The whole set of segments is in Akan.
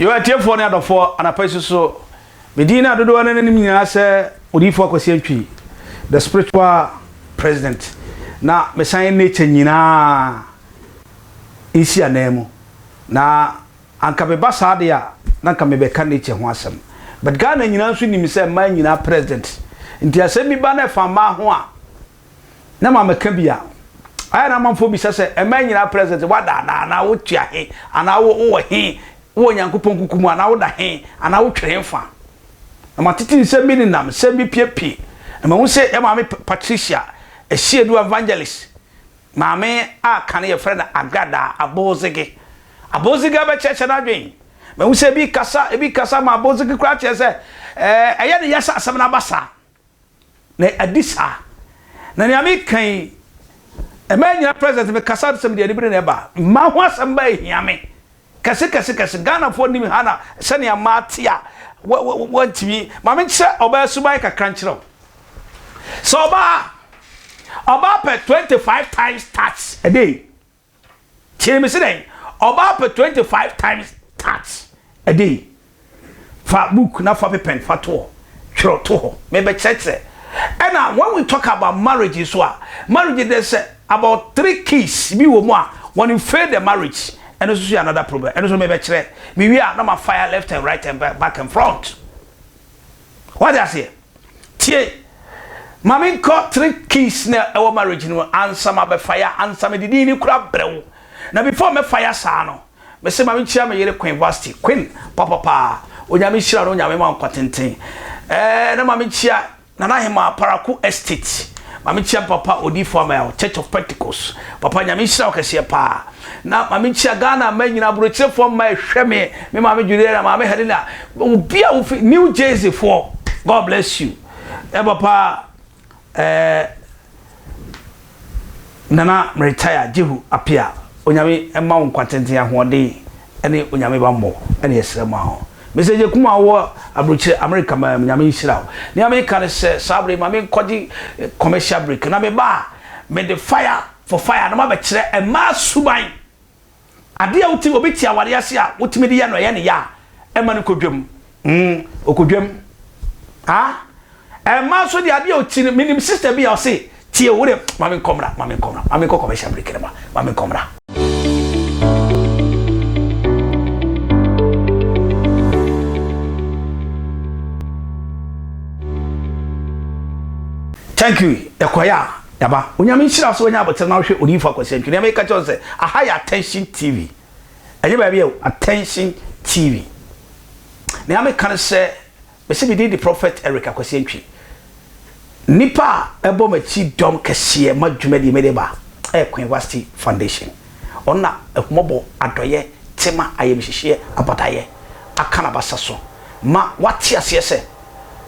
yɛwɔ atiefoɔ ne adɔfoɔ anapa yi soso medin no adodoɔ no nanim nyinaa sɛ odiyifoɔ akwasi atwi the spiritual president na mesan nature nyinaa nsi anaa mu na Anka meba saa deɛ a na anka mebɛka nature ho asɛm but Ghana nyinaa nso nim sɛ mmaa nyinaa president nti asɛm bi ba na ɛfa mmaa ho a na ma mɛka bi a ayɛ na amanfoɔ bisa sɛ mmaa nyinaa president wada anaa anaa wotua he anaa wo wowɔ he wowɔ Nyankopɔn kuku mu anaa woda he anaa wotwere he fa na matete nsɛm bi nenam nsɛm bi piepie na mahu sɛ yɛ maame Patricia Asiedu Evangelist Maame a kan no yɛfrɛ no Agada Abozege. Abozege abɛkyerɛkyerɛ n'adwen. Mahu sɛ ebi kasa, ebi kasa ma Abozege koraa kyerɛ sɛ ɛɛ ɛyɛ ne ya sɛ asɛm no aba saa. Na adi saa. Na nea meka yi, ɛma nyina president mekasa sɛ mede anibere na ɛba. Mma ho asɛm ba ehia me. Kɛse kɛse kɛse Ghanafoɔ nim Hannah sɛnea mmaa te a wɔntumi ma menkyerɛ ɔbaa suban kakra nkyerɛ wo sɛ ɔbaa ɔbaa pɛ 25 times touch a day kyerɛ me sɛ dɛn ɔbaa pɛ 25 times touch a day Fa book na fa pepɛn fa to hɔ, twerɛ to hɔ, mebɛkyerɛkyerɛ. Ɛna when we talk about marriage nso a, marriage deɛ sɛ about three keys bi wɔ mu a, wɔn fail the marriage, ɛno nso so yɛ another problem, ɛno nso mebɛkyerɛ, mewie a na ma fire left and right and back and front. Wate aseɛ? Tie, ma me nkɔ three keys na ɛwɔ marriage no mu ansa ma bɛ fire, ansa me de din no kura brɛ wo. Na before mɛ fire saa no, me se ma me nkyia me yere Queen Vasti, Queen papapaa, Onyame nhyira no, Onyame ma wo nkwa tenten. Ɛɛ na ma me nkyia Nana Hemaa Paraku Estate, ma me nkyia me papa Odiifo Amel, Church of Pentecost, papa Nyame nhyira wo kɛseɛ paa. Na ma me nkyia Ghana mma nyina, aburokyire foɔ mma ɛhwɛ me, me maame Juliana, maame Helena, Obi a wofi new jersey foɔ God bless you ɛbɔ paa ɛɛ nana meretire jehu apia onyame ɛma wo nkwa tenten ahoɔden ɛne onyame bammɔ ɛne ɛsrɛ ma ho mesɛ gye kuma wɔ aburokyire amerika ma nyame nhyira wo nea meka ne sɛ saa bere ma menkɔgye commercial break na meba a mede fire for fire na mabɛkyerɛ ɛmaa suban Adeɛ a wotumi, obi te awareɛ ase a wotumi de yɛ no ɛyɛ ne ya a, ɛma no kɔ dwam. Mm, ɔkɔ dwam. Ah, mmaa nso deɛ adeɛ a ɔti no, menim sista bi a ɔse, tie wo deɛ, ma me nkɔ mmra, ma me nkɔ mmra, ma me nkɔ commercial break no ma, ma me nkɔ mmra. Thank you, ɛkɔeɛ a. Daba, Onyame nhyira wo sɛ wanya aboterɛ na wohwɛ Odiyifo Akwasi Antwi. Nea meka kyerɛ wo ne sɛ, aha yɛ Attention TV. Ɛnyɛ baabi o, Attention TV. Nea meka ne sɛ, mese me din de Prophet Eric Akwasi Antwi. Nnipa a ɛbɔ m'akyi dɔm kɛseɛ ma dwuma die mede ba ɛyɛ Queen Vasti Foundation. Ɔno na ahummɔbɔ, adɔeɛ, tema, ayamhyehyeɛ, abadaeɛ aka n'abasa so ma wate aseɛ sɛ,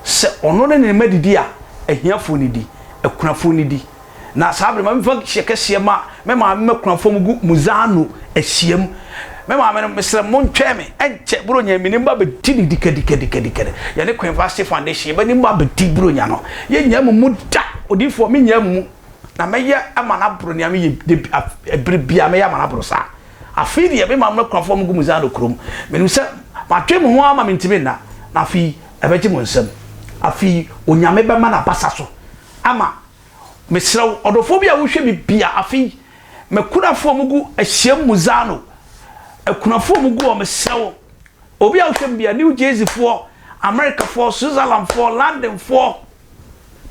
sɛ ɔno ne ne mma didi a, ahiafoɔ no di, akunafoɔ no di. Na saa bere ma mefa hyɛ kɛseɛ ma me maame ma akunafoɔ mu gu Muzano ahyiam. Me maame no, mesrɛ mo ntwɛn me, ɛnkyɛ Buronya me ne mma bɛdi no dikadikadikadikadi. Yɛne Queen Vashti Foundation, yɛbɛ ne mma abɛdi Buronya no. Yɛnnya mo mu da, odiyifoɔ, mennya mo mu. Na mɛyɛ ama no aboro nea meyɛ da bi, ɛbere biara mɛyɛ ama no aboro saa. Afei deɛ, me maame akunafoɔ no gu me Zano kurom. Menim sɛ matwe me ho ama mentumi nna, na afei ɛbɛgye mo nsam. Afei Onyame bɛma no abasa so ama. Mesrɛ wo, ɔdɔfoɔ bi a wohwɛ me bia, afei m'akunafoɔ no gu ahyiam mu Zano akunafoɔ no gu hɔ, mesrɛ wo, obi a wohwɛ me bia, New Jerseyfoɔ, Americafoɔ, Switzerlandfoɔ, Londonfoɔ,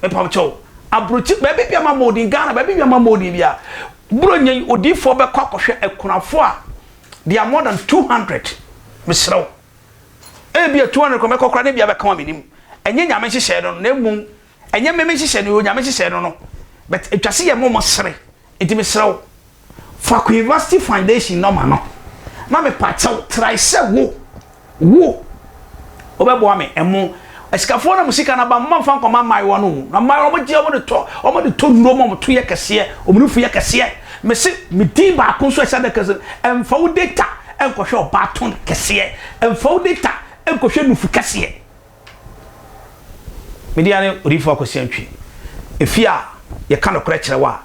mepam kyɛw aburokyi baabi bia ma mɔden ghana baabi bia ma mɔden bia buro nyɛ yi odiifoɔ bɛkɔ akɔhwɛ akunafoɔ a they are more than 200 mesrɛ wo ebi a 200 kɔ mɛkɔ kora ne bia bɛka wa menim ɛnyɛ nyame nhyehyɛ no na mmom ɛnyɛ mmeme nhyehyɛ no yɛ nyame nhyehyɛ no no but atwa se yɛ mɔmɔ sere Enti mesrɛ wo, fa kɔ University Foundation nɔma no, na mepaakyɛw trae sɛ wo, wo, wobɛboa me. Ɛmo, asikafoɔ no mu sika no aba, momma mfa nkɔma mmaayewa no mu. Na mmaayewa no, wɔgye, wɔde tɔ, wɔde tɔ nnuro ma wɔn to yɛ kɛseɛ, wɔn nufu yɛ kɛseɛ. Mese, me din baako nso a ɛhyɛ adaka so no, mfa wo data nkɔhwɛ ɔbaa ton kɛseɛ, mfa wo data nkɔhwɛ nufu kɛseɛ. Me din ane Odiyifo Akwasi Antwi. Efie a yɛka nokorɛ kyerɛ wo a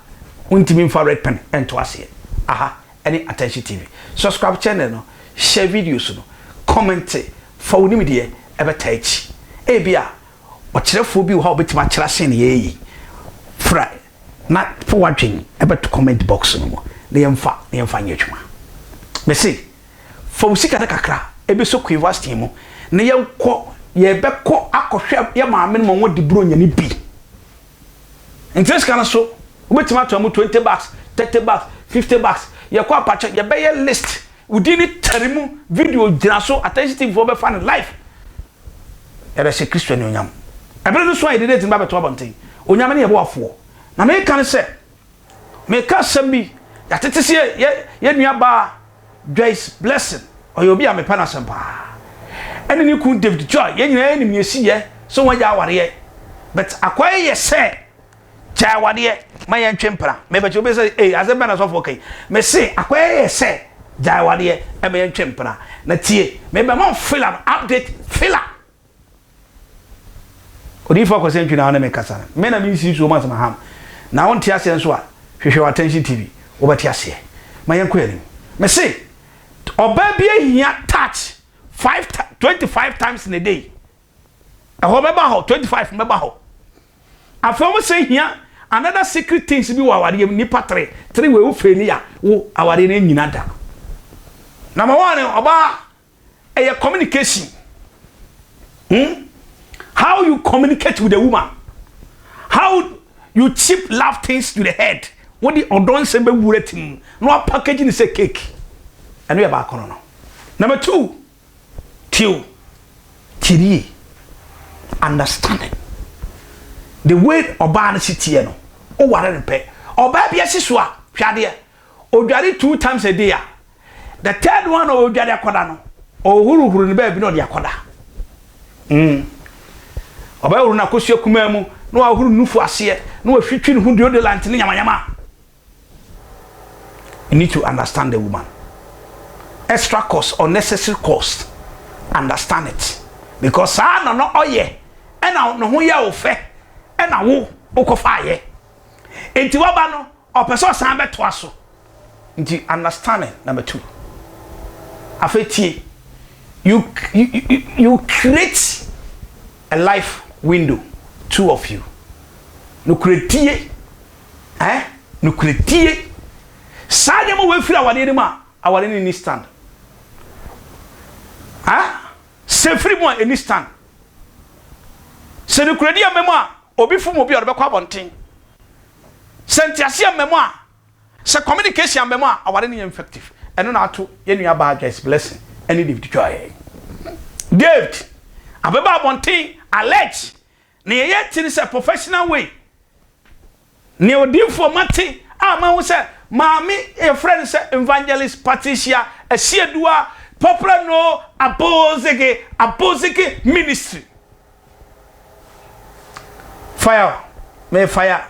wontumi mfa red pen nto aseɛ. Aha ne Attention TV. Subscribe channel no, share videos no, kɔmɛnte, fa wo nimdeɛ bɛtaa akyi. Ebia ɔkyerɛfoɔ bi wɔ hɔ a ɔbɛtumi akyerɛ asɛnneɛ yi. Frɛ na fa w'adwene bɛto comment box no mu na yɛmfa na yɛmfa nyɛ adwuma. Mese. Fa wo sika no kakra bɛsɔ Quayvaston mu na yɛnkɔ, yɛbɛkɔ akɔhwɛ yɛn maame no ma wɔadi Buronyani bi. Nti ne sika no so, wobɛtumi ato mu 20 bucks, 30 bucks, 50 bucks. Yɛkɔ apakyɛ, yɛbɛyɛ list, wo din no tare mu, video gyina so, Attention TV foɔ bɛfa no live. Yɛde hyɛ Kristo anuonyam. Ɛberɛ no so a yɛde date no ba bɛto abɔnten. Onyame ne yɛboafoɔ. Na meka no sɛ, Meka asɛm bi, yɛatete se yɛ yɛ nua baa Joyce Blessing, ɔyɛ obi a mepɛ no asɛm paa, ɛne ne kun David Choi, yɛn nyinaa yɛnim nea ɛsi yɛ sɛ wɔn agya awareɛ, but akwae yɛ sɛ, gyae awadeɛ ma yɛn ntwe mpena, mepɛ kyɛ obi sɛ ee asɛm bɛn na sɔfoɔ ka yi, mese akwae yɛ sɛ, gyae awadeɛ ma yɛn ntwe mpena, na tie, mebɛma wo filler no update filler. Odiyifo Akwasi Antwi na wo ne me kasa no, me na me nsii so mas ma ham na wo nte aseɛ nso a hwehwɛ wɔ Attention TV wo bɛte aseɛ ma yɛn kɔ yɛn anim me se ɔbaa bi ahia touch five twenty five times in a day ɛhɔ bɛba hɔ twenty five no bɛba hɔ afei wɔn sɛ hia another secret things bi wɔ awareɛ mu nipa tere tere wɔ ewu fɛ ni a wo awareɛ no nyina da na ma wɔn ɔbaa ɛyɛ communication hmm how you communicate with a woman how you cheap love things to the head wode ɔdɔ nsɛm bɛwura ti mu na wapackage ne sɛ cake ɛno yɛ baako no no number two tiw tirie understanding the way ɔbaa no si teɛ no woware no pɛ ɔbaa bi asi so a hwɛ adeɛ odware two times a day a The third one a ɔredware akɔda no, ɔhohorohoro no baabi na ɔde akɔda. Mm. Ɔbɛhohoro no akosua kumaa mu, na wahoro ne nufu aseɛ, na wahwitwi ne ho deodorant ne nyamanyama. You need to understand the woman. Extra cost, unnecessary cost. Understand it. Because saa na no ɔyɛ, ɛna ne ho yɛ wo fɛ, ɛna wo wokɔfaayɛ. Enti waba no, Ɔpɛ sɛ ɔsan bɛtoa so. Nti understanding number two. Afei tie. You you create a life window two of you. Nokorɛdie eh nokorɛdie saa nneɛma wei firi awadeɛ no mu a awadeɛ no nni stand. Ah sɛ firi mu a ɛnni stand. Sɛ nokorɛdie amma mu a obi fom obi a ɔde bɛkɔ abɔnten Sɛ nteaseɛ mma mu a, sɛ communication amma mu a, aware no nyɛ effective. Ɛno na ato yɛn nua baa Joyce Blessing ne David Joy. David abɛba abɔnten allege na yɛyɛ ti no sɛ professional way. Nea odiifoɔ mate a mahu sɛ maame yɛfrɛ no sɛ Evangelist Patricia Asieduwa, popular no Abozege Abozege Ministry. Fire, me fire.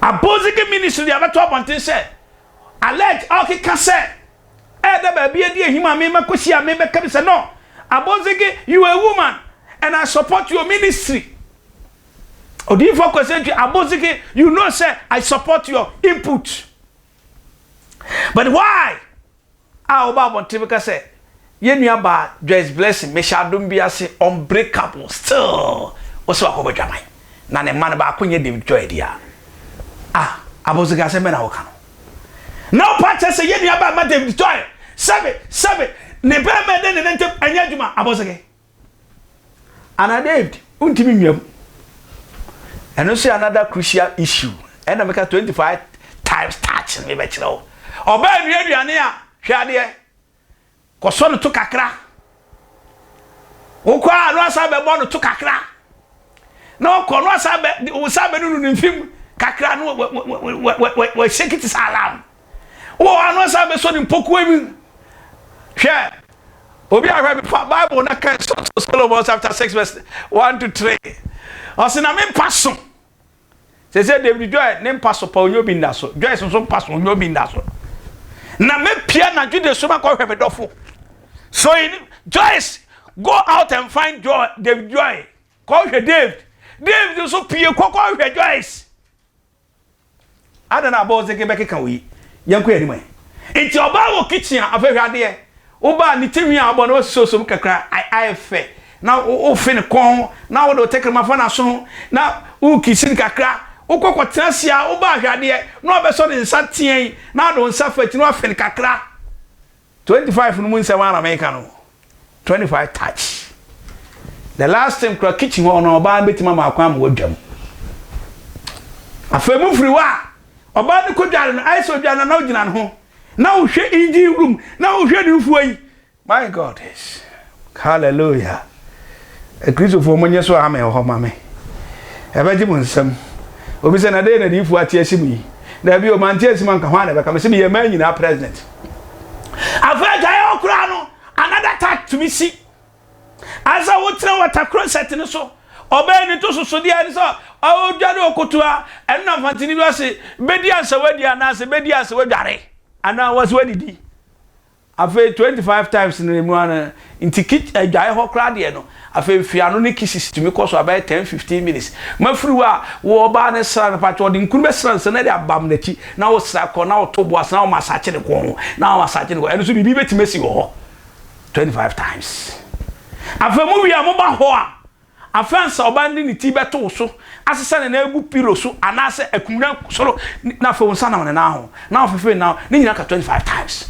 Abosigi Ministry de abɛto abɔnten sɛ alleged a ɔkeka sɛ ɛda baabi adi ahim a memakɔsi a mebɛka bi sɛ no, Abosigi you a woman and I support your ministry. Odiyifoɔ Kwasentwi Abosigi you know sɛ I support your input but why? A Woba abɔnten bɛka sɛ yɛn nua baa Joyce Blessing Mehyɛ Adom bi ase Unbreakable still wo sɛ wakɔbɔ dwaman na ne mma no baako nyɛ David Joy dea a abɔnsen ka asɛm bɛn na wo ka no na wo pa kyerɛ sɛ yɛn nua baa ma David Joy sɛbe sɛbe ne bɛɛma ɛne ne nana ntam ɛnyɛ adwuma abɔnsen. Ana David wontumi nnwam. Ɛno nso yɛ another crucial issue. Ɛna meka 25 times touch no mebɛkyerɛ wo. Ɔbaa nua aduane a hwɛ adeɛ. Kɔsɔ no to kakra. Wokɔ a no asa bɛbɔ no to kakra. Na ɔkɔ no asa bɛ wo sa bɛnunu ne mfim kakra no wɔhyɛ kiti sɛ alarm. Wowɔ hɔ a na ɔsan bɛsɔ ne mpɔkowa mu. Hwɛ, obi ahwɛ me fa Bible na kan Songs of Solomon chapter six verse one to three. Ɔsi na me mpa so. Sɛ sɛ David Joy ne mpa so pa onyo bi nda so. Joyce nso mpa so onyo bi nda so. Na me pia na jude so ma kɔhwɛ me dɔfo. So in Joyce go out and find Joy, David Joy. Kɔhwɛ David. David nso pie kɔkɔhwɛ Joyce. Adɛn na abɔɔdze bɛkeka wo yi? Yɛnkɔ yɛn anim ɛ. Nti ɔbaa wɔ kitchen a, afei hwɛ adeɛ. Wo ba a, ne ti nwi a wabɔ no, woasosɔsosɔ mu kakra, ayɛ fɛ, na wofe ne kɔn ho, na wode wo tɛkrɛma fa n'aso ho, na worekisi no kakra. Wokɔ kɔtena ase a, wo ba a, hwɛ adeɛ, na wabɛsɔ ne nsa teɛn, na wode wo nsa afa akyiri na woafe no kakra. Twenty five no mu nsɛm ara na meka no twenty five touch the last thing kora kitchen hɔ no ɔbaa no bɛtumi ama akwan ma wadwam afei mu firi hɔ a ɔbaa no kɔdware no ayɛ sɛ ɔdwa no na wogyina no ho na wohwɛ engine room na wohwɛ ne mfuo yi my god yes Hallelujah! Akristofoɔ monnye so amen wɔ hɔ ma me. Ɛbɛgye mo nsam. Obi sɛ, na dɛn na adiyifoɔ ate asi mu yi? Daabi o, mante asi mu anka hwan na ɛbɛka me sɛ meyɛ mmaa nyinaa president. Afei agyaeɛ hɔ koraa no, another tax tumi si. Asɛ wotena wɔta closet no so, ɔbɛn ne to sosodeɛ ne sɛ ɔdwane ɔkotoa, ɛno na mfantini bi ɔse, bɛdi ansa wadi anaasɛ bɛdi ansa wadware anaa wɔse wadidi. Afei twenty five times no emu ara nti kit adwae hɔ koraa deɛ no afei mfeano ne kisses tumi kɔ so a bɛyɛ ten fifteen minutes ma firi hɔ a wo ɔbaa no sra no pakyɛ ɔde nkunu bɛsra nsa na de abam n'akyi na wo sra kɔ na wo to bo ase na wo masakye ne kɔn ho na wo masakye ne kɔn ɛno nso biribi bɛtumi asi wɔ hɔ twenty five times afei mo wie a mo ba hɔ a. Afei ansa ɔbaa no de ne ti bɛto wo so, asesa ne nan agu pillow so anaasɛ akumina soro na afei wo nsa nam ne nan ho na wafefe ne nan, ne nyinaa ka twenty five times.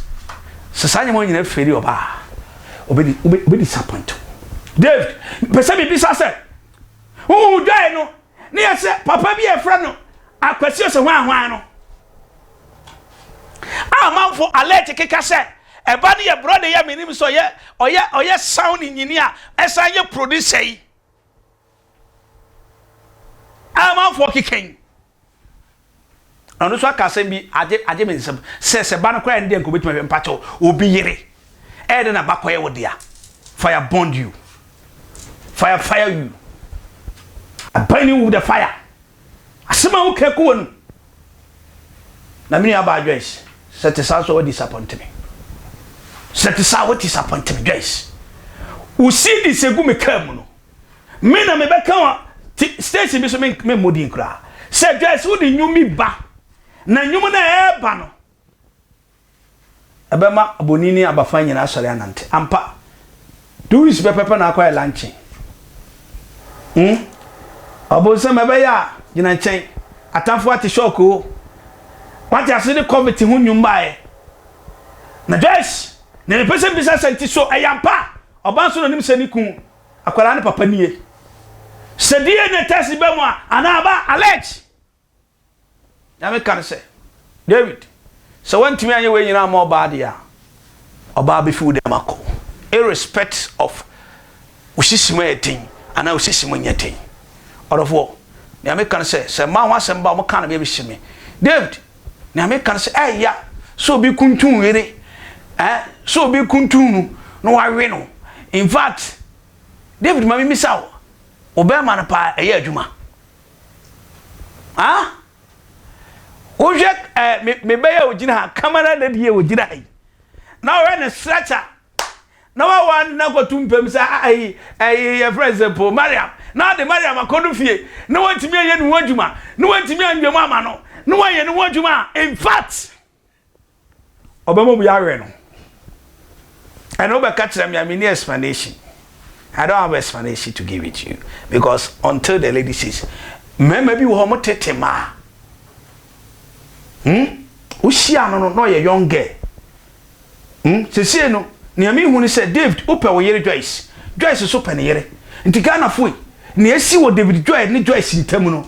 Sɛ saa nneɛma yi nyinaa feri ɔbaa a, ɔbɛ ɔbɛ disappoint wo. David, mepɛ sɛ mibisa sɛ, Wohu dwae no Ne yɛ sɛ papa bi a yɛfrɛ no Akwasi Osehwanhwan no a amanfo alert keka sɛ ɛba no yɛ brɔda yɛ menim sɛ ɔyɛ ɔyɛ ɔyɛ sound engineer ɛsan yɛ producer yi a amanfo keka yi Ɔno nso aka asɛm bi agye agye me nsam sɛ sɛ ba no koraa ne deɛ nka obetumi ahwɛ mpakyɛw obi yere ɛyɛ dɛ na ba kɔyɛ wo dea fire bond you fire fire you I burn you with the fire asɛm a woka gu w'anum na me nua baa Joyce sɛ te saa nso wa disappoint me sɛ te saa wa disappoint me Joyce wo CDs egu me kaa mu no Me na mebɛka wa ti station bi so me me mmɔ din koraa. Sɛ Joyce wo de nnwom bi ba na nnwom no ɛɛba no ɛbɛma abɔni ne abafan nyinaa asɔre anante. Ampa two weeks pɛpɛpɛ na akɔyɛ lankyɛn. Hmm? Ɔbonsam ɛbɛyɛ a gyina nkyɛn. Atamfo ate shock o. Wate ase de COVID ho nnwom baeɛ. Na Joyce na mepɛ sɛ bisa sɛ nti so ɛyɛ ampa a ɔbaa nso na ɔnim sɛ ne kun Akwadaa no papa nie. Sɛ DNA test ba mu a, anaa aba allege. Na meka no sɛ, David, sɛ woantumi anyɛ wei nyinaa ama ɔbaa deɛ a, ɔbaa bɛfi wo dɛm akɔ. Irrespect of wo sisi mu yɛ den anaa wo sisi mu nyɛ den. Ɔdɔfoɔ, deɛ meka no sɛ, sɛ mmaa ho asɛm ba a, wɔka no bɛbɛsi me. David, Nea meka no sɛ ɛyɛ ya sɛ obi kuntun yere eh sɛ obi kuntun no na wawe no in fact David ma mimisa wo wo bɛrima no paa ɛyɛ adwuma ah wohwɛ eh mebɛyɛ ogyina ha camera lady yɛ ogyina ha yi na ɔyɛ ne stretcher na wawa ne na kɔto mpam sɛ ayi ɛyi yɛfrɛ sɛ po mariam na ɔde mariam akɔdo fie na wantumi ayɛ ne ho adwuma na wantumi anwam ama no na wayɛ ne ho adwuma a in fact ɔbɛma obi awɛ no ɛna wobɛka kyerɛ me a menni explanation I don't have explanation to give it to you because until the lady says mmarima bi wɔ hɔ mo tete maa hmm wohyia no no na ɔyɛ young girl Hmm, sesei no, nea mehu ne sɛ David wopɛ wo yere Joyce, Joyce nso pɛ ne yere. Nti Ghanafo ei, nea asi wɔ David Joy ne Joyce ntam no,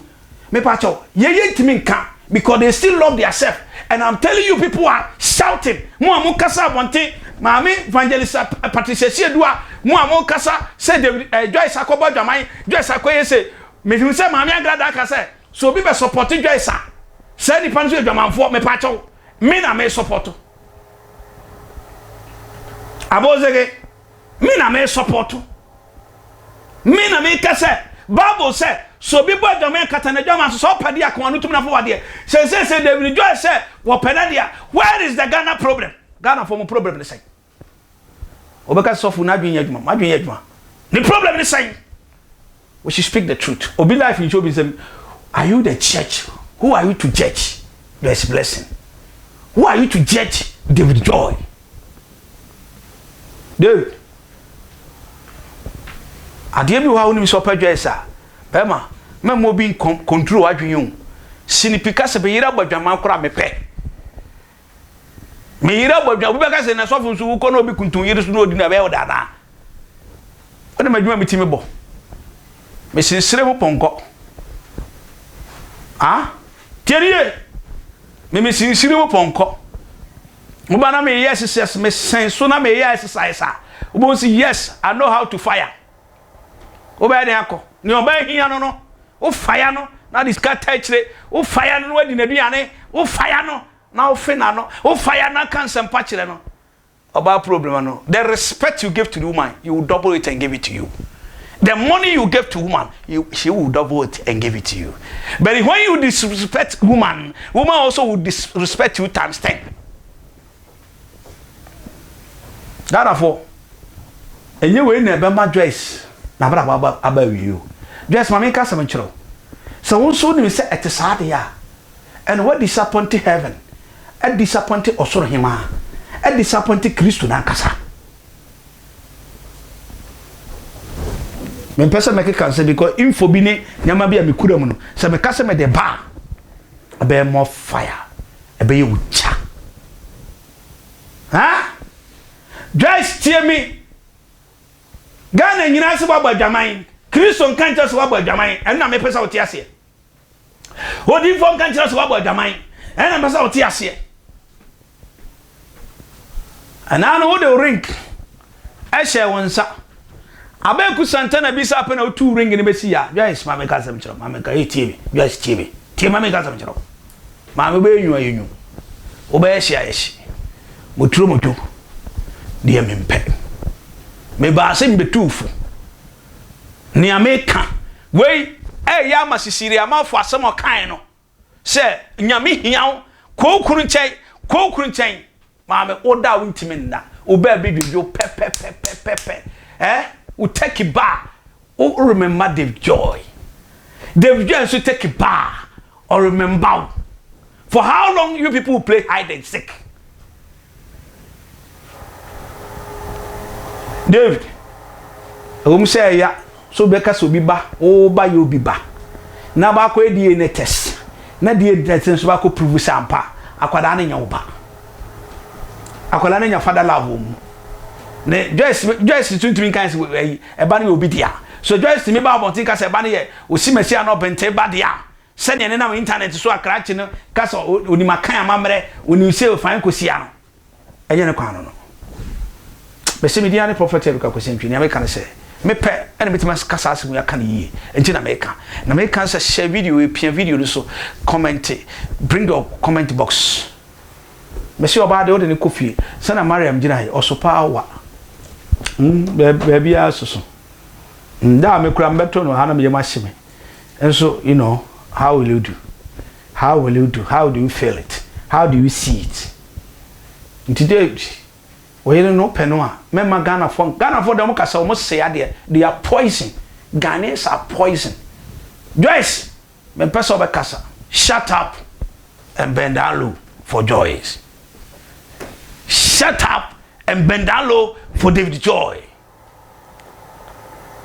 mepakyɛw, yei yɛntumi nka because they still love their self and I'm telling you people are shouting, mo a mokasa abɔnten, Maame Evangelist Patricia Asiadua, mo a mokasa sɛ David, eh, Joyce akɔbɔ adwaman, Joyce akɔyɛ sei, mehu sɛ Maame Angrada aka sɛ, sɛ obi bɛsɔpɔte Joyce a, saa nipa no nso yɛ dwamanfoɔ, mepakyɛw, me na mesɔpɔto. Abosege, me na me sɔpɔto. Me na me ka sɛ Bible sɛ sɛ obi bɔ adwaman kata n'adwaman so sɛ ɔpɛ de akɔn ano tumi nafo wadeɛ. Sɛ sɛ sɛ David Joy sɛ wɔpɛ n'adeɛ a where is the Ghana problem? Ghana fo mo problem ne sɛn? Wɔbɛka sɔfo n'adwene nyɛ adwuma. M'adwene yɛ adwuma. Ne problem ne sɛn? We should speak the truth. Obi life nkyɛ obi nsɛm. Are you the church? Who are you to judge? There is blessing. Who are you to judge David Joy? David. Adeɛ bi wɔ ha wonim sɛ ɔpɛ dwa ɛsa. Bɛma, mɛma obi nkɔnturo adwene o. Sinipi ka sɛ bɛyere abɔ adwaman koraa mepɛ. Me yere abɔ adwuma. Obi bɛka sɛ na sɔfo nso wokɔ na obi kuntun yere so na odi no ɛbɛyɛ ɔda anaa? Ɔne ma adwuma mi ti me bɔ. Me sensere ho pɔnkɔ. Ah, tie ne yie. Me me sensere ho pɔnkɔ. Mo ba na me yɛ exercise me sɛn so na me yɛ exercise a. Wobɛhu si yes, I know how to fire. wobɛyɛ dɛn akɔ nea ɔbaa hia no no wofa ya no na de sika ta akyire wofa ya no na wadi n'aduane wofa ya no na wofe na no wofa ya na ka nsɛmpa kyerɛ no ɔbaa problem no the respect you give to the woman you will double it and give it to you the money you give to woman you, she will double it and give it to you but when you disrespect woman woman also will disrespect you times ten Ghanafoɔ, ɛnyɛ wei na ɛbɛma Joyce n'abrabɔ aba aba awie o. Joyce ma menka asɛm nkyerɛ wo. Sɛ wo nso wonim sɛ ɛte saa deɛ a, ɛnna woadisapɔnte heaven, adisapɔnte ɔsoro hemaa, adisapɔnte Kristo no ankasa. Mempɛ sɛ mɛkeka nsɛm bi kɔ info bi ne nneɛma bi a mekura mu no. Sɛ meka sɛ mede ba a, ɛbɛyɛ more fire. ɛbɛyɛ wo kya haa guys tie me Ghana nyinaa sɛ wabɔ adwaman Kristo nka nkyerɛ sɛ wabɔ adwaman ɛno na mepɛ sɛ wote aseɛ odiifoɔ nka nkyerɛ sɛ wabɔ adwaman ɛno na mepɛ sɛ wote aseɛ anaa no wode rink hyɛɛ wo nsa. Abeku Santana bisa apɛ na otuu ring no besi ya. Joyce ma meka asɛm kyerɛ wo. Ma meka, ei tie me. Joyce tie me. Tie ma meka asɛm kyerɛ wo. Maame wobɛyɛ nwu a yɛnwu. Wobɛyɛ hye a yɛhye. Moturo moto deɛ mempɛ. Mebaa se mebetuu fo. Nea meka wei ɛyɛ ama Sisiri Amanfo asɛm a ɔkae no. Sɛ nyame hia wo kɔ wo kunu nkyɛn kɔ wo kunu nkyɛn maame wo da wo ntumi nna wo baa bi dwodwo pɛpɛpɛpɛpɛ ɛ wo tɛki baa wo remember Dave Joy Dave Joy nso tɛki baa ɔremember wo for how long you people play hide and seek David, ɛwɔ mu sɛ ɛya sɛ wobɛka sɛ obi ba wo ba yɛ obi ba na baakɔyɛ DNA test na DNA test nso baakɔ prove sɛ ampa akwadaa no nyɛ wo ba akwadaa no nya fada love wɔ mu ne Joyce Joyce tuntun kan sɛ ɛyi ɛba no yɛ obi dea so Joyce tumi ba abɔnten ka sɛ ɛba no yɛ osimasi anɔ bɛnte ba dea Sɛnea ɛnenam intanɛt so a krakye no ka sɛ onim Akan amammerɛ, onim sɛ Ofae Kosia no, ɛnyɛ ne kwan no no. Mese me din ara ne Prɔfɛt Eric Akwasi Antwi. Nea meka ne sɛ, mepɛ na metumi aka saa asɛm yi aka no yie, enti na meka. Na meka ne sɛ, share video yi, pia video no so, kɔmɛnte, bring your comment box. Mese ɔbaa deɛ wode no kɔ fie, sɛnea Mariam gyinaeɛ, ɔso pa ara wa. Baabiara soso. Da a me koraa mebɛto no ha na me yam ahye me. nso you know how will you do how will you do how do you feel it how do you see it nti dɛ ɔyere no pɛ no a mɛma ghanafoɔ ghanafoɔ deɛ wɔn kasa wɔn se adeɛ they are poison ghanaians are poison joyce mempɛ sɛ ɔbɛkasa shut up and bend down low for joyce shut up and bend down low for david joy.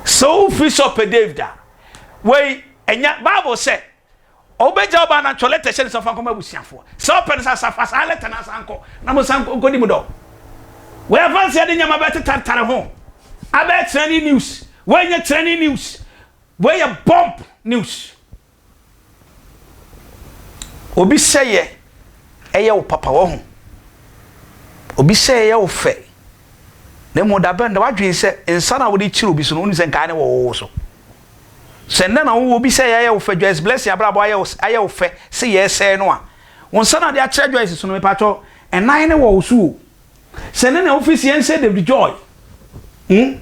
Sɛ wofi sɛ ɔpɛ David a, wei ɛnyɛ Bible sɛ ɔbɛgya ɔbaa no atwerɛ lɛtɛ hyɛ no sɛ ɔfa nkɔma abusuafoɔ. Sɛ ɔpɛ no sɛ fa saa lɛtɛ no asan kɔ na mo san nkɔdi mu dɔ. Wei afanseɛ de nneɛma bɛte tantare ho abɛyɛ trending news. Wei nyɛ trending news. Wei yɛ bomb news. Obi sɛeɛ yɛ wo papa, wahu? Obi sɛeɛ yɛ wo fɛ. Na mmom da bɛn da w'adwene sɛ nsa no a wode kyere obi so no, wonim sɛ nkaeɛ no wɔ wo wo so. Sɛ nnɛ na wowɔ obi sɛeɛ ayɛ wo fɛ, Joyce Blessing abrabɔ ayɛ wo ayɛ wo fɛ se yɛresɛe no a, wo nsa no a wode akyerɛ Joyce so no, mepatwɔ, nnan no wɔ wo so o. sɛ ne na ofisi yɛn sɛ David Joy hmm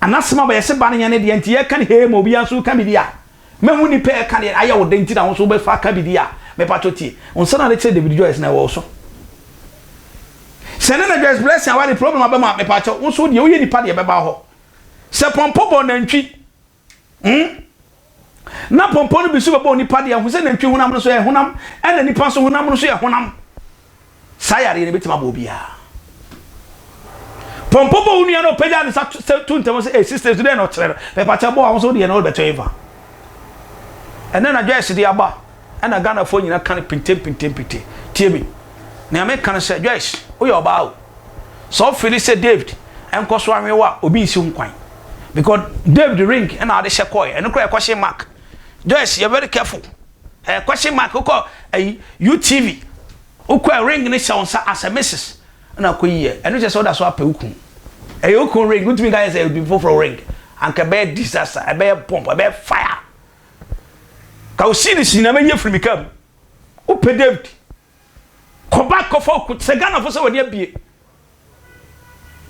anasɛm aba yɛsɛ ba no yɛn ne deɛ nti yɛka ne hee ma obiara nso ka biribi a mɛhu nipa ɛka deɛ ayɛ wo dɛn nti na wo nso wobɛfa ka biribi a mepatwɔ tie wo nsa na de kyerɛ David Joyce na ɛwɔ so sɛ ne na Joyce Blessing aware problem aba mu a mepatwɔ wo nso deɛ woyɛ nipa deɛ bɛba hɔ sɛ pɔmpɔ bɔ nantwi Hmm? Na pɔmpɔ no bi so bɛbɔ onipa deɛ ho sɛ nantwi honam no so yɛ honam ɛna nipa nso honam no so yɛ honam saa yareɛ no bɛtumi abɔ obiara pɔmpɔ bɔ wo nua no ɔpɛgya ne sa to ntɛm sɛ ɛsi stage dɛn na ɔkyerɛ no pɛpakyɛ bɔ a wo so deɛ no wode bɛtɔ ɛmfa ɛnɛ na dwɛɛse de aba ɛna Ghanafoɔ nyina ka no pintempintempinte. Tie me. Nea meka no sɛ, Joyce, woyɛ ɔbaa o. Sɛ wo feeli sɛ David nkɔ so anwe wo a, obi nsi ho kwan. Because David ring na wode hyɛ kɔɔɛ. Ɛno koraa yɛ question mark. Joyce, yɛ very careful. Ɛyɛ question mark. Wokɔ ayi, UTV, wokɔ a ring no hyɛ wo nsa as a Mrs. Ɛna akɔ yi yɛ. Ɛno kyerɛ sɛ woda so apɛ wo kun. Ɛyɛ wo kun ring. Wontumi nka yɛ sɛ ɛyɛ obi foforɔ ring. Anka ɛbɛyɛ disaster, ɛbɛyɛ bomb, ɛbɛyɛ fire. Ka wo series nyinaa mɛyi afiri me kaa mu. Wopɛ David? Kɔ back kɔfa wo sɛ Ghanafoɔ sɛ wɔde abie.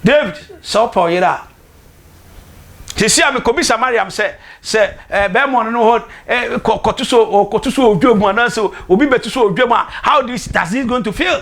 David, sɛ wopɛ wo yere a, sisi a mekɔbisa Mariam sɛ sɛ eh, bɛrima ɔno no hɔ eh, kɔ kɔto so ɔkɔto so odwa mu anaasɛ obi bɛto so odwa mu a how this does he going to feel?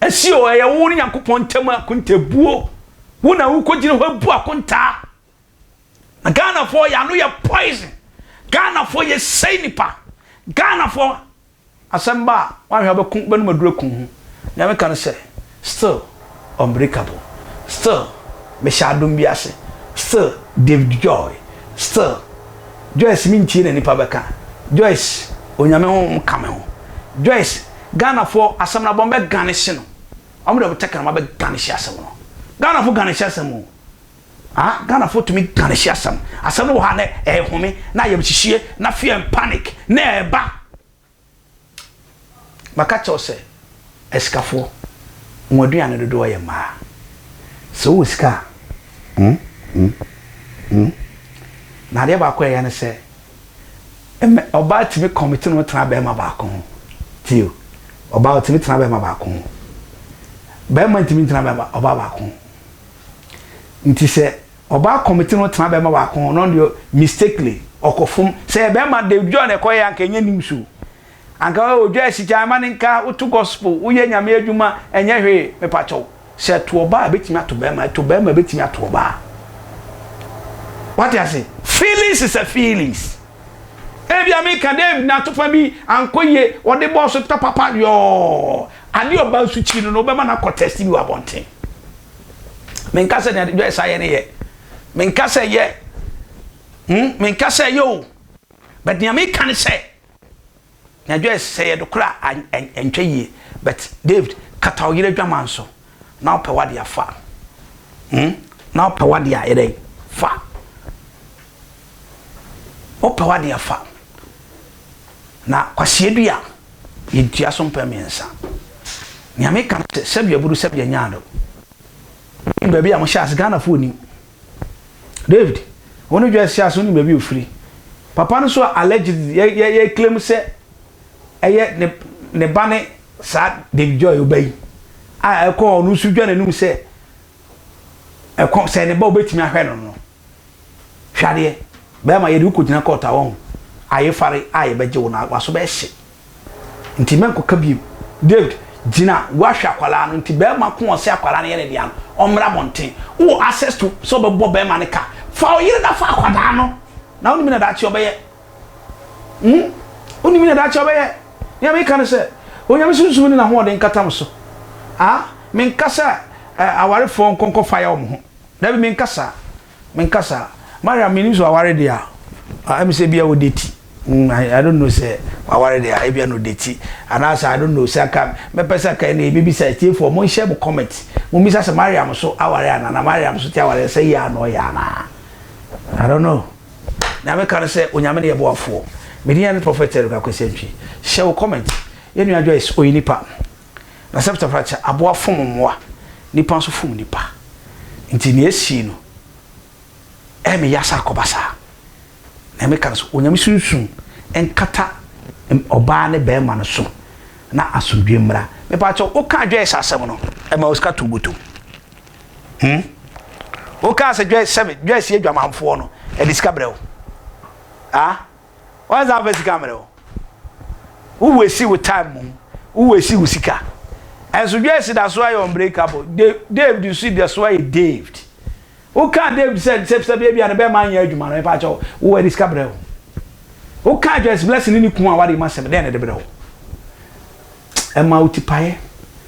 Ɛsi o, ɛyɛ wo ne Nyankopɔn ntam akontabuo. Wo na wokɔgyina hɔ bu akontaa. Na Ghanafoɔ yɛ ano yɛ poison. Ghanafoɔ yɛ sɛi nipa. Ghanafoɔ asɛm ba a woanhwɛ a wobɛko wobɛnum aduru aku ho. Nea meka ne sɛ still unbreakable, still mehyɛ adom bi ase, still David Joy, still Joyce me ntie na nipa bɛka Joyce onyame honhom ka me ho Joyce Ghana foɔ asɛm no abɔn bɛ gane hye no ɔmo de ɔmo tɛkrɛma bɛ gane hye asɛm no Ghana fo gane hye asɛm o ah Ghana fo tumi gane hye asɛm asɛm no wɔ ha na ɛhome na ayɛmhyehyie na fear and panic na ɛba Maka akyerɛ wo sɛ, asikafoɔ, wɔn aduane dodoɔ yɛ mmaa. Sɛ wowɔ sika a, hmm, hmm, hmm. Na adeɛ baako a ɛyɛ ne sɛ, mmɛ, ɔbaa tumi kɔmiti ne ho tena barima baako ho. Tie o, ɔbaa ɔtumi tena barima baako ho. Barima ntumi ntena barima, ɔbaa baako ho. Nti sɛ Ɔbaa committee no tena bɛɛma baako ho na ɔno deɛ mistakenly ɔkɔ fom sɛ yɛ bɛɛma de dwɔ na ɛkɔ yɛ anka ɛnyɛ news o anka ɔyɛ odwa asikyan ma ne nka woto gospel woyɛ nyame adwuma ɛnyɛ hwee mepakyɛw sɛ ɛto ɔbaa ɛbɛtumi ato bɛɛma ɛto bɛɛma ɛbɛtumi ato ɔbaa wate ase feelings is a feelings ebi a meka David na atofa bi ankɔ yie ɔde bɔɔso papa yɔɔ ade ɔbaa nso kyi no na ɔbɛma no akɔ test bi wɔ abɔnten. Menka sɛ nea Joyce ayɛ no yɛ. Menka sɛ yɛ. Hmm, menka sɛ yɛ o. But nea meka ne sɛ, nea Joyce sɛ yɛ do kora a, ɛntwa yie. But David, kata wo yere adwaman so. Na wopɛ w'ade a, fa. Hmm, na wopɛ w'ade a, yɛ dɛn? Fa. Wopɛ w'adeɛ fa. Na kwaseɛdua, yɛntua so mpɛ mmiɛnsa. Nea meka ne sɛ, sɛdeɛ aburo, sɛdeɛ nyaado. Wonim baabi a mohyɛ ase? Ghanafoɔ nim. David, wo ne Joyce hyɛ ase, wonim baabi a ɔfiri? Papa no nso a allegedly, yɛ, yɛ, yɛreclaim sɛ ɛyɛ ne, ne ba ne saa David Joy ɔba yi a ɛkɔɔ, ɔno nso dwa n'anum sɛ ɛkɔ, sɛ ne ba a ɔbɛtumi ahwɛ no no. Hwɛ adeɛ, bɛɛma yɛde wo kɔgyina kɔɔt a wahu, ayefare a yɛbɛgye wo no waso bɛhye nti mɛnkɔka biom. David, gyina woahwɛ akwadaa no nti bɛɛma ko ɔse akwadaa no yɛ ne dea no ɔmmra abɔnten, wowɔ access to sɛ ɔbɛbɔ bɛɛma no ka, fa wo yere na fa akwadaa no na wonim nea daakye ɔbɛyɛ hmm, wonim nea daakye ɔbɛyɛ, nea meka ne sɛ Onyame sunsum ne nahoɔden nkata mo so ah, menka sɛ eh, awarefoɔ nkɔ nkɔfire wɔn ho. Dabi menkasa menkasa Mariam mennim sɛ waware deɛ a ah ɛmi sɛ bia ɔde ti mm I, I don't know sɛ waware deɛ a ebia na ɔde ti anaasɛ I don't know sɛ anka mɛpɛ sɛ anka ɛna yɛbɛbisa atiefoɔ mo nhyɛ mo comment mo mmisa sɛ Mariam so aware anaa na Mariam so te aware sɛ yɛ a na ɔyɛ anaa I don't know na meka no sɛ onyame ne yɛ boafoɔ medin ne Prophet Eric Akwesantwi hyɛ wo comment yɛnua Joyce ɔyɛ nipa Na sɛpta fata kyɛ aboa fom mmoa, nnipa nso fom nnipa. Nti nea ɛsii no, ɛyɛ me ya sɛ akɔba saa. Nea meka ne sɛ, Onyame sunsum nkata ɔbaa ne bɛɛma no so na asomdwoe mmra. Mepaakyɛw, wokaa Joyce asɛm no, ɛmaa wo sika too wo botom? Hmm? Wokaa sɛ Joyce, sɛ Joyce yɛ dwamanfoɔ no, ɛde sika brɛ wo? Ah? Why is that best sika mmerɛ wo? Wo wesi wo time mu, wo wesi wo sika. Ɛnso Joyce da so ayɛ unbreakable. David nso da so ayɛ David. Wo ka David sɛ sɛ sɛ bia bia ne bɛma anyɛ adwuma no ɛpa kyɛ wo. Wo wɔ de sika brɛ wo. Wo ka Joyce blessing ne ne kun a wade ma sɛm dɛn ne de brɛ wo. Ɛma wo tipaeɛ.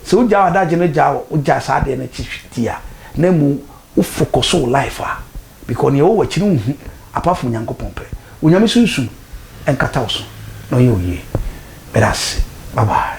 Sɛ wo gya adagye no gya wo gya saa deɛ no ti ti a na mu wo focus wo life a Because nea ɛwɔ w'akyi no wonhu apart from Nyankopɔn pɛ. Onyame sunsum nkata wo so na ɔnyɛ wo yie. Meda ase. Bye bye.